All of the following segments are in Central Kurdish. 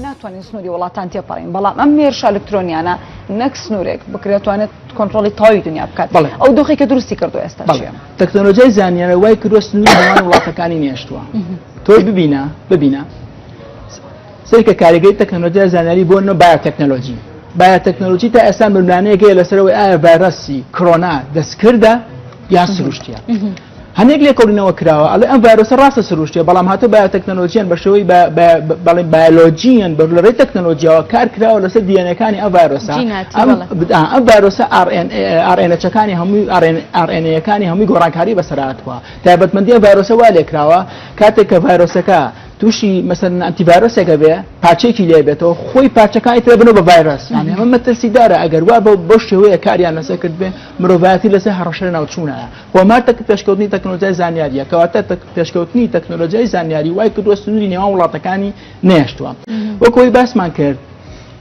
ناتوانین سنووری وڵاتان تێپەڕین بەڵام ئەم مێرشە ئەلکترۆنیانە نەک سنوورێک بکرێتوانێت کۆنتترۆلی تاوی دنیا بکات بڵێ ئەو دۆخێکە دروستی کردو ئێستا تەکنۆلۆژیای زانیانە وای کردۆ سنووری هەمان وڵاتەکانی نێشتووە تۆی ببینە ببینە سەیرکە کاریگەری تەکنەلۆجیای زانیاری بۆ نۆ بایۆتەکنەلۆجی بایۆتەکنەلۆجی تا ئێستا ململانەیەکەیە لەسەرەوەی ئایا ڤایرۆسی کڕۆنا دەستکردە یان سروشتیە هەنێک لێکۆڵینەوە کراوە ئەڵێ ئەم ڤایرۆسە ڕاستە سروشتیە بەڵام هاتە بایۆتەکنەلۆجیان بەشەوەی بەڵێ بایۆلۆجییان بەر لە ڕێی تەکنەلۆجییاوە کار کراوە لەسەر دیێنەکانی ئەم ڤایرۆسە ئەم ڤایرۆسە ئارێنەچەکانی هەمووی ئارێنەکانی هەمووی گۆڕانکاری بەسەراتوە تایبەتمەندی ڤایرۆسە وا لێکراوە کاتێک کە ڤایرۆسەکە تووشی مەسەن ئەتیڤایرۆسێکە بێ پارچێکی لێ بێتەوە خۆی پارچەکانی تر بنەوە بە ڤایرۆس یانە ئەمە مەترسیدارە ئەگەر وا بە بەو شێوەیە کاریان لەسەر کرد بێ مرۆڤایەتی لەسەر هەڕەشە ناوچوونایە هۆمار تەک پێشکەوتنی تەکنۆلۆژیای زانیاریە کەواتە پێشکەوتنی تەکنۆلۆژیای زانیاری وای کردووە سنووری نێوان وڵاتەکانی نێشتووە وەکۆی باسمان کرد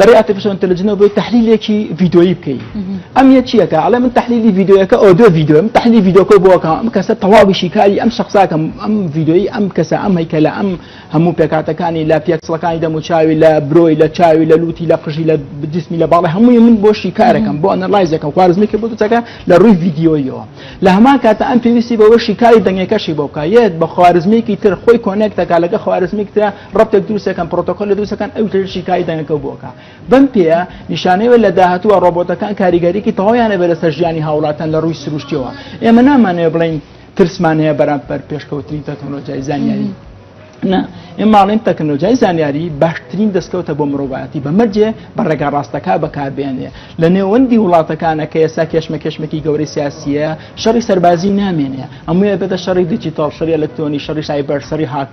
لەڕێی ئاتیفیشەڵ ئینتەلجنەوە بۆی تەحلیلێکی ڤیدۆیی بکەی ئەم یە چیەکە ئەڵێ من تەحلیلی ڤیدۆیەکە ئەو دو ڤیدۆ من تەحلی ڤیدۆکە بۆکە ئەم کەسە تەواوی شیکاری ئەم شخصاکەم ئەم ڤیدۆیی ئەم کەسە ئەم هەیکە لە ئەم هەموو پێکاتەکانی لە پێکسڵەکانی دەم و چاوی لە برۆی لە چاوی لە لوتی لە قژی لە بجسمی لە باڵی هەمووی من بۆ شیکارەکەم بۆ ئەنەلایزەکەم خوارزمی کە بتەکە لە ڕووی ڤیددیۆیەوە لە هەمان کاتە ئەم پێویستی بەوە شیکاری دەنگەکەشی بۆکە یەت بە خوارزمێکی تر خۆی کۆنێکتەکە لەگە خوارزمیکتە ڕەپێک دروستەکەن پرۆتۆکۆل لە دروستەکەن ئەو تر شیکاری دەنگەکە بۆکە بەم پێە نیشانەوە لە داهاتوە ڕۆبۆتەکان کاریگەریکی تەواویانە بێ لەسەر ژیانی هاوڵاتان لە ڕووی سروشتیەوە ئێمە نامانەیە بڵین ترسمان هەیە بەرامبەر پێشکەوتنی تەکنۆلۆژیای زانیاری. نا ئێماڵین تەکنۆلۆژیای زانیاری باشترین دەستکەوتە بۆ مرۆڤایەتی بەمەرجێ بە ڕێگا ڕاستەکە بەکاربێنێ لە نێوەندی وڵاتەکانە کە ئێستا کێشمە کێشمێکی گەورەی سیاسیە شەڕی سەربازی نامێنێ ئەمویە بێتە شەڕی دیجیتال شەری ئەلکترۆنی شەڕی سایبەر شەری هاک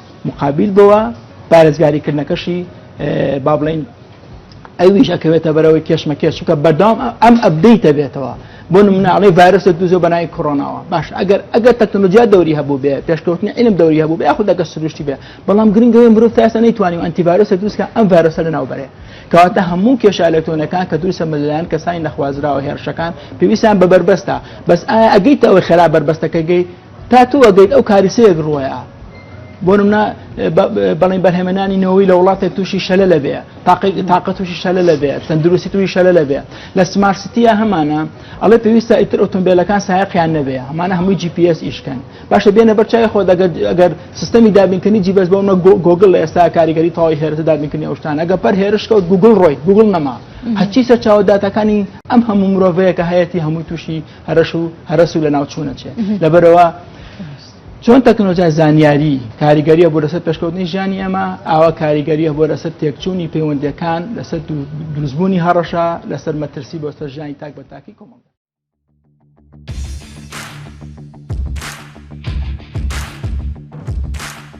مقابیل بۆوە پارێزگاریکردنەکەشی با بڵین ئەویش ئەکەوێتە بەرەوەی کێشمەکێش چکە بەردام ئەم ئەبدەیتە بێتەوە بۆ مناڵی ڤایرۆسە دوزۆ بەنای کۆرۆناوە باش ئەگەر ئەگەر تەکنۆلۆژیا دەوری هەبوو بێ پێشکەوتنی علم دەوری هەبوو بێ خود دەگە سروشتی بێ بەڵام گرنگەوەی مرۆڤ تاسە نەیتوانی و ئەنتیڤایرۆسە دوستکە ئەم ڤایرۆسە لەناو بەرێ کەواتە هەموو کێشە ئەلەکتۆنەکان کە دروستە مەلایەن کەسانی نەخوازراوە هێرشەکان پێویستیان بە بەربەستە بەس ئایا ئەگەیتەوەی خێرا بەربەستەکەگەی تا تۆ ئەگەیت ئەو کاریسەیەک ڕوەیە بۆ نمنا بەڵێن بەرهێمەنانی نەوەی لە وڵاتێک تووشی شەلە لەبێ تاقی تاقە تووشی شەلە لەبێ تەندروستی تووی شەلە لەبێ لە سمارسیتیە هەمانە ئەڵێ پێویستە ئیتر ئۆتۆمبیلەکان سایقیان نەبێ هەمانە هەمووی GPS ئیشکەن باشە بێنە بەرچای خۆ دەگەر ئەگەر سیستەمی دابینکردنی جیبەس بۆمە گۆگل لە ئێستا کاریگەری تەواوی هێرتە دابینکردنی ئەوشتان ئەگە پەر هێرشکەوت گوگل ڕۆی گوگل نەما هەچی سەرچاوە داتەکانی ئەم هەموو مرۆڤەیەکە هەیەی هەمووی تووشی هەرەش و هەرەس و لەناو چوونە چێ لەبەرەوە چۆن تەکنۆلۆژیای زانیاری کاریگەریە بۆ لەسەر پێشکەوتنی ژیانی ئەمە ئاوا کاریگەریە بۆ لەسەر تێکچوونی پەیوەندەکان لەسەر دروستبوونی هەڕەشە لەسەر مەترسی بۆ سەر ژیانی تاک بە تاکی کۆمەڵ